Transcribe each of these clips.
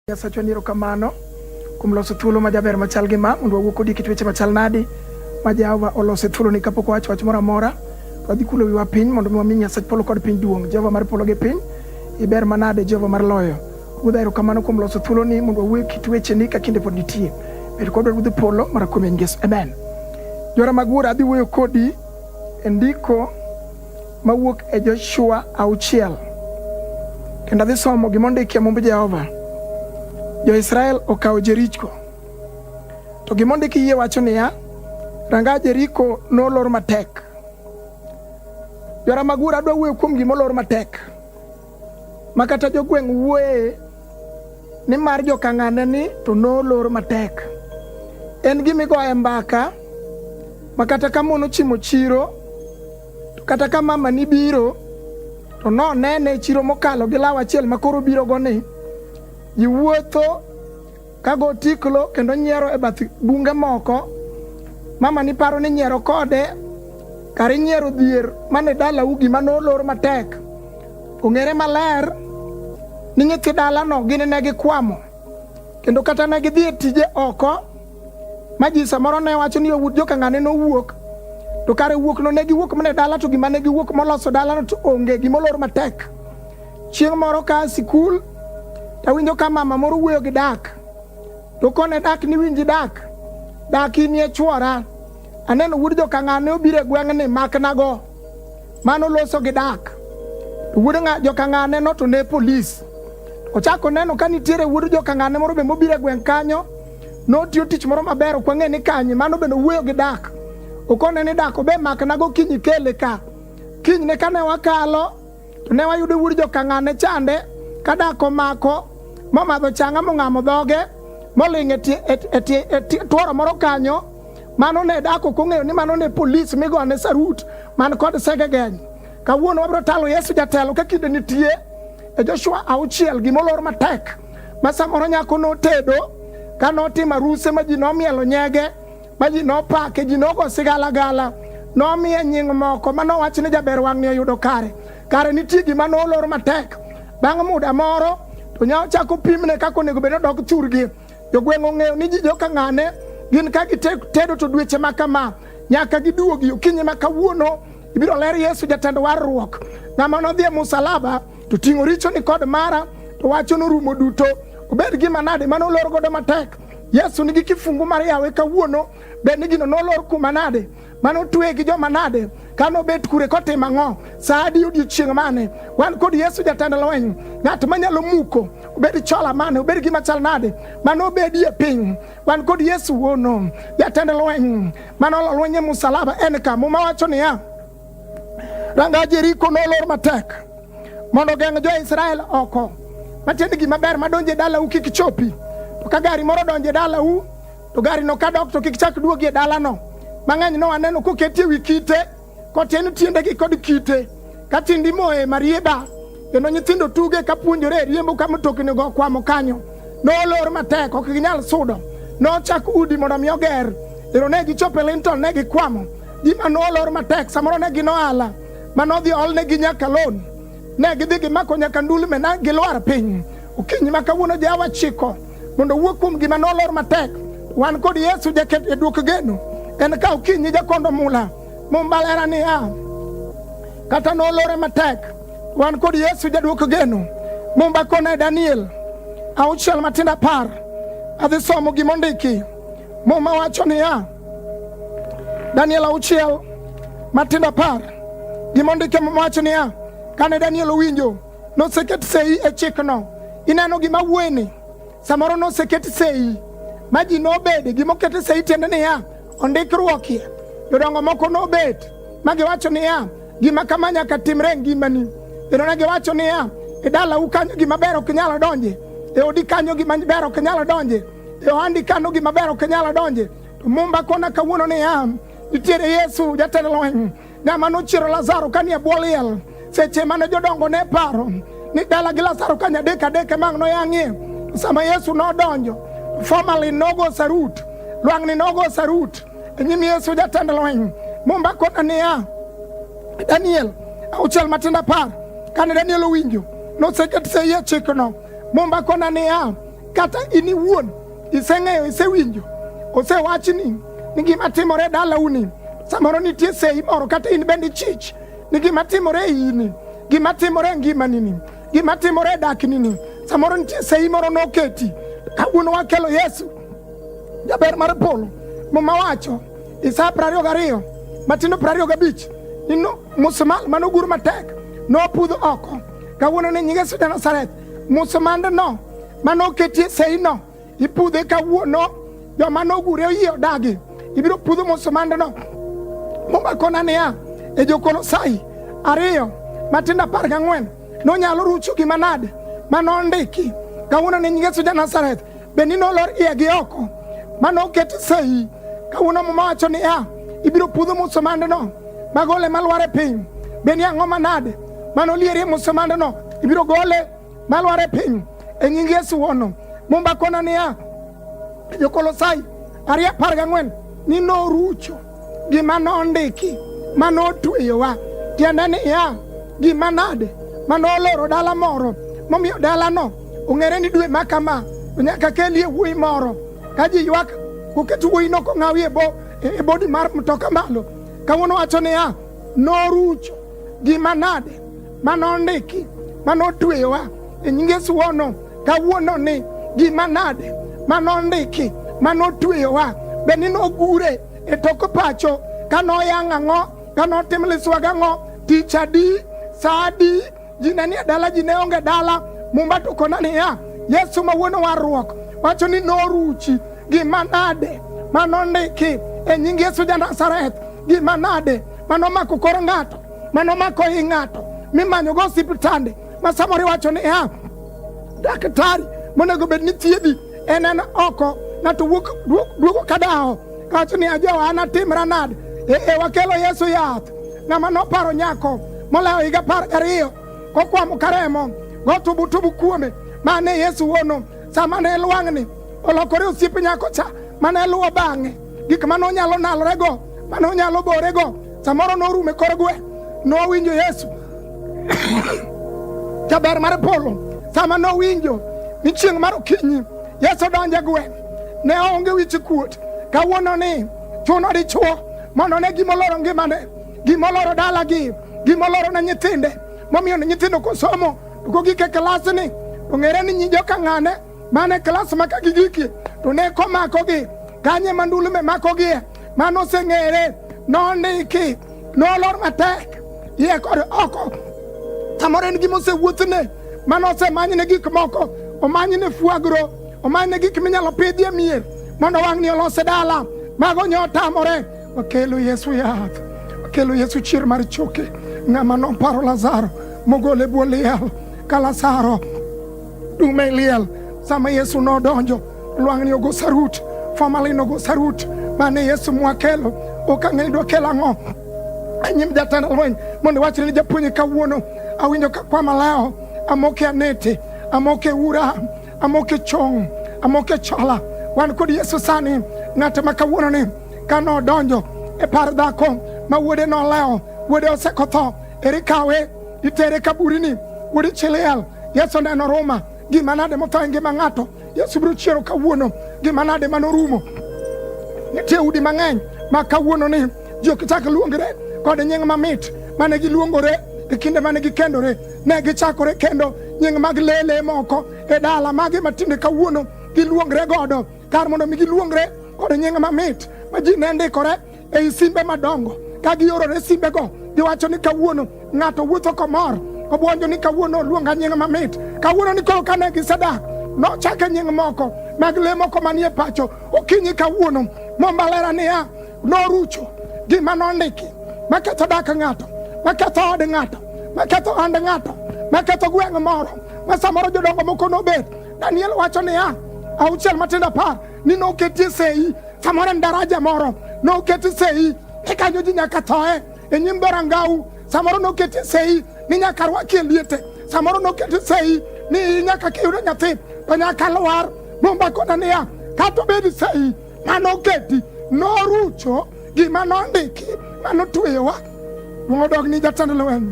Nyasachwa ni erokamano kuom loso thuolo ma jaber machal gi ma mondo wawuo kodi kit weche machal nadi ma Jehova oloso e thuoloni kapok wawacho wach moro amora to wadhi kulo wiwa piny mondo mi wami Nyasach polo kod piny duong' Jehova mar polo gi piny iber manade Jehova mar loyo Ruodha erokamano kuom loso thuoloni mondo wawuo kit wecheni ka kinde pod nitie bed kodwa Ruodh polo mara kuom en Yesu amen Jora mag wuora adhi wuoyo kodi e ndiko mawuok e Joshua auchiel kendo adhi somo gima ondiki e mumb Jehova. Jo-Israel okawo Jeriko, to gima ondiki yie wacho niya, ranga Jeriko nolor matek. Jora Magura adwa wuoyo kuom gima olor matek. makata jogweng' wuoye ni mar jokang'ane ni to nolor matek. En gimigoye mbaka makata ka mon ochimo chiro to kata ka mama ni biro to nonene chiro mokalo gi law achiel makoro birogo ni ji wuotho Ka go tiklo kendo nyiero e bath bunge moko, mama ni paro ni nyiero kode kar inyiero dhier mane dalau gima nolor matek. Ong'ere maler ni nyithi dalano gin ne gikwamo kendo kata ne gidhi e tije oko ma ji samoro ne wacho ni owut jokang'ane nowuok to kare wuokno ne giwuok mana e dala to gima ne giwuok moloso dalano to onge gima olor matek Chieng' moro ka sikul tawinjo ka mama moro wuoyo gi dak to kone dak ni winji dak dak inie chwora aneno wuod jokang'a ne obiro e gweng'ni maknago mano loso gi dak to wuod jokang'a ne noto ne polis ochako neno ka nitiere wuod jokang'a ne moro be mobiro e gweng' kanyo notiyo tich moro maber ok wang'e ni kanye mano bende owuoyo gi dak okone ni dak obe maknago kiny ikele ka kinyne kane wakalo To ne wayudo wuod jokang'an ne chande ka dak omako momadho changa mong'amo dhoge moling' e tworo moro kanyo mano ne dak ok ong'eyo ni mano ne polis migone sarut man kod segegeny kawuono wabiro talo yesu jatelo ka kinde nitie e joshua auchiel gimolor matek ma samoro nyako notedo ka notimo aruse ma ji nomielo nyege ma ji nopake, ji nogo sigalagala, nomiye nying moko ma nowach ni jaber wang'ni oyudo kare. Kare nitie gima nolor matek. Bang' muda moro to nya ochako pimne kaka onego bed ni odok thurgi. Jogweng' ong'eyo ni ji joka ng'ane gin ka gitedo to dweche ma kama nyaka giduogi okinyi ma kawuono ibiro ler Yesu jatend warruok. Ng'ama nodhi e musalaba to ting'o richoni kod mara to wacho norumo duto. Obed gima nade ma nolor godo matek Yesu nigi kifungu mar yawe kawuono, bed ni gino nolor kuma nade, mane otweye gi joma nade, ka nobet kure kotimo ang'o, sa adi odiechieng' mane. Wan kod Yesu jatend lweny, ng'at manyalo muko, obed chola mane, obed gima chal nade, mane obedi e piny. Wan kod Yesu wuono, jatend lweny, mane olo lweny e musalaba, en ka. Muma wacho niya, Ranga Jeriko nolor matek mondo ogeng' jo-Israel oko, matiende gima ber madonjo e dalau kik chopi. To ka gari moro donjo e dalau, to garino ka dok to kik chak duogi e dalano. Mang'eny no aneno koketi e wi kite, kotieno tiendegi kod kite, ka tiend imoye marieba, kendo nyithindo tuge ka puonjore e riembo ka mtoknigo okwamo kanyo. Nolor matek, ok ginyal sudo. Nochak udi mondo mi oger, ero ne gichopo e Linton, ne gikwamo. Gima nolor matek samoro ne gin ohala ma nodhi olnegi nyaka lon, ne gidhi gimako nyaka ndulme na gilwar piny. Okinyi ma kawuono jawa chiko mondo owuo kuom gima nolor matek. Wan kod Yesu jaket e duok geno en ka okinyi jakondo mula mombalera niya kata nolore matek wan kod Yesu jaduok geno mumba kone Daniel auchiel matindo apar adhi somo gimondiki muma wacho niya Daniel auchiel matindo apar gima ondike wacho niya kane Daniel owinjo noseket sei e chikno ineno gima wueni samoro noseket sei ma ji nobede gima okete sei tiende niya ondikruokie jodongo moko nobet ma giwacho niya gima kama nyaka timre e ngimani kendo ne giwacho niya e dalau kanyo gima ber ok nyalo donje e odi kanyo gima ber ok nyalo donje e ohandi kano gima ber ok inyalo donje to mumba kona kawuono niya nitiere yesu jatend lweny ng'ama nochiero lazaro ka nie bwo liel seche mane jodongo ne paro ni dala gi lazaro ka nyadek adek emang noyang'ie sama yesu nodonjo formerly nogo sarut lwang'ni nogo sarut e nyim yesu jatend lweny mumba kona niya daniel auchiel matindo apar kane daniel owinjo noseket seiye chikno mumba kona niya Kata in iwuon iseng'eyo, isewinjo, osewachni ni gima timore e dalauni, samoro nitie sei moro, kata in bende chich ni gima timore e ini, gima timore e ngimanini, gima timore e daknini, samoro nitie sei moro noketi. Kawuono wakelo Yesu jaber mar polo, muma wacho Isaya prariyo gariyo matindo prariyo gabich ni musumal manogur matek nopudh oko kawuono ni nyinge Yesu Nazareth Musmandno mane oketie seino ipudhe kawuono, joma nogure oyie odagi, ibiro pudho musmandno. Muma kona niya, e Jokolosai ariyo matindo apar gang'wen nonyalo rucho gima nade ma nondiki kawuono ne nyingeso ja Nazareth bed ni nolor iye gi oko ma noket sei kawuono muma wacho ni a ibiro pudho musomandno magole malwar e piny bed ni ang'o manade ma nolierie musomandno ibiro gole malwar e piny e nying yesu wono mumba kona niya jokolosai ariyo apar gang'wen ni norucho gima nondiki ma notweyowa, tiende niya, gima nade ma noloro dala moro momiyo dalano ong'ere ni dwe ma kama nyaka kelie wuoyi moro ka ji ywak koket wuoyino kong'awi e bodi mar mtoka malo kawuono wacho niya norucho gima nade ma nondiki ma notweyowa e nying Yesu wono kawuono ni gima nade ma nondiki ma notweyowa be ni nogure e tok pacho ka noyang' ang'o ka notim liswaga ang'o tich adi sa adi ji ne nie dala ji ne onge dala mumba to kona niya yesu ma wuon warruok wacho ni noruchi gima nade ma nondiki e nying yesu ja nazareth gima nade ma nomako kor ng'ato mano mako i ng'ato mimanyogo osiptande ma samoro iwacho ni ya daktari monego bed ni thiedhi en en oko ng'ato wuok duo- duogo ka dawo kawacho ni ajowa an atimra nade ee wakelo yesu yath ng'ama noparo nyako molawo higa apar gariyo kokwamo ka remo gotubutubu kuome ma ne yesu wono sama ne lwang'ni olokore osiep nyako cha ma ne luwo bang'e gik ma nonyalo nalorego ma nonyalo borego samoro norume kor gwe nowinjo yesu jaber mar polo sama nowinjo ni chieng' mar okinyi yesu donje gwe ne onge wich kuot kawuono ni chuno dichuo mondo ne gimoloro ngimane gimoloro dalagi gimoloro ne nyithinde momiyo ne nyithindo kosomo to kogike klasni ong'ere ni nyijo ka ng'ane mane klas ma ka gigikie to ne komakogi kanye mandulume makogie mane oseng'ere nondiki nolor matek iye kod oko samoro en gima osewuothne mane osemanyne gik moko omanyne fuagro omanyne gik minyalo pidhie mier mondo wang'ni olose dala mago nyo otamore wakelo yesu yath wakelo yesu chier mar choke ng'ama noparo lazaro mogole bwo liel ka lazaro Dum e liel sama Yesu nodonjo lwang'ni ogo sarut formalin ogo sarut mane Yesu mwakelo ok ang'e ni dokelo ang'o e nyim jatend lweny mondo iwachre ni japuonj kawuono awinjo ka kwa maleo amoke anete amoke ura amoke chong amoke chola wan kod Yesu sani ng'ate ma kawuononi ka nodonjo e par dhako ma wuode noleo wuode osekotho Ere kawe itere kaburini udichiliel Yesu neno Roma gima nade motho e ngima ng'ato Yesu biro chiero kawuono gima nade manorumo nitie udi mang'eny ma kawuono ni ji ok chak luongre kod nying mamit mane giluongore e kinde mane gikendore ne gichakore kendo nying mag lele moko e dala magi matinde kawuono giluongre godo kar mondo mi giluongre kod nying mamit ma ji ne ndikore ei simbe madongo ka giorore simbego giwacho ni kawuono ng'ato wuotho komor obwonjo ni kawuono oluonga nying mamit kawuono ni koro kane gisedak nochake nying moko mag le moko manie pacho okinyi kawuono mombalera niya norucho gima nondiki maketho dak ng'ato maketho od ng'ato maketho hand ng'ato maketho gweng' moro ma samoro jodongo moko nobet daniel wacho niya auchiel matindo apar ni noketie sei samoro en daraja moro noketi sei ni kanyo ji nyaka thoe e nyim dhorangau samoro noketi sei ni nyaka rwakie liete samoro noketi sei ni nyaka kiyudo nyathi to nyaka lwar mumba kona niya kata obedi sei mane oketi norucho gima nondiki mane otweyowa duong' odog ni jatend lweny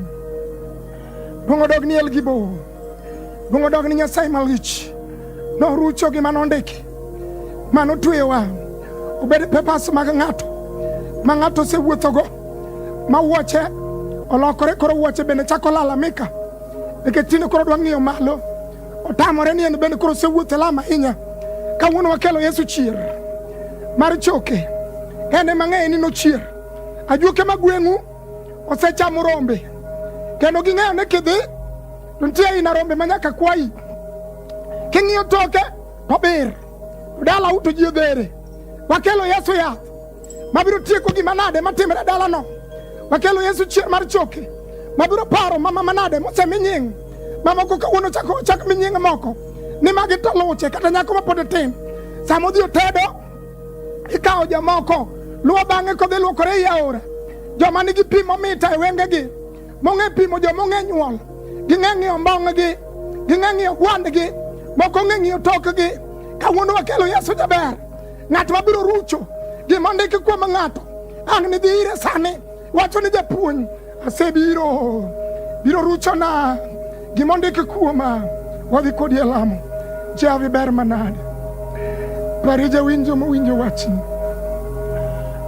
duong' odog ni elgibo Luongo dog ni Nyasaye malich norucho gima nondiki mano tweyowa obed pepas mag ng'ato ma ng'ato osewuothogo ma wuoche olokore koro wuoche bende chako lalamika nikech tinde koro dwa ng'iyo malo otamore ni en bende koro osewuotho lama ahinya kawuono wakelo yesu chier mar choke en emang'eyo ni nochier ajuoke magweng'u osechamo rombe kendo ging'eyo ni kidhi to nitie aina rombe ma nyaka kwayi king'iyo toke to bir to dalau to ji odhere wakelo yesu yath mabiro tieko gima nade matimre dalano wakelo yesu chier mar choke mabiro paro mama manade mosemi nying mamoko kawuono chako chak mi nying moko ni magi to luche kata nyako mapod tin sama odhi otedo Ikawo jomoko luwo bang'e kodhi luokore ei aora, joma nigi pi momita e wengegi, mong'e pimo joma ong'e nyuol, ging'e ng'iyo mbong'gi, ging'e ng'iyo gwandgi, moko ong'e ng'iyo tokgi. Kawuono wakelo Yesu jaber, ng'at mabiro rucho gima ondiki kuom ng'ato ang' nidhi ire sani Wacho ni japuonj asebiro biro ruchona gima ondiki kuoma wadhi kodi e lamo javi ber manade pari jawinjo mowinjo wachni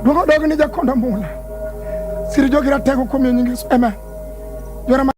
duong' odog ni jakonda mula siri jogi ratego kuom yo nyingeso amen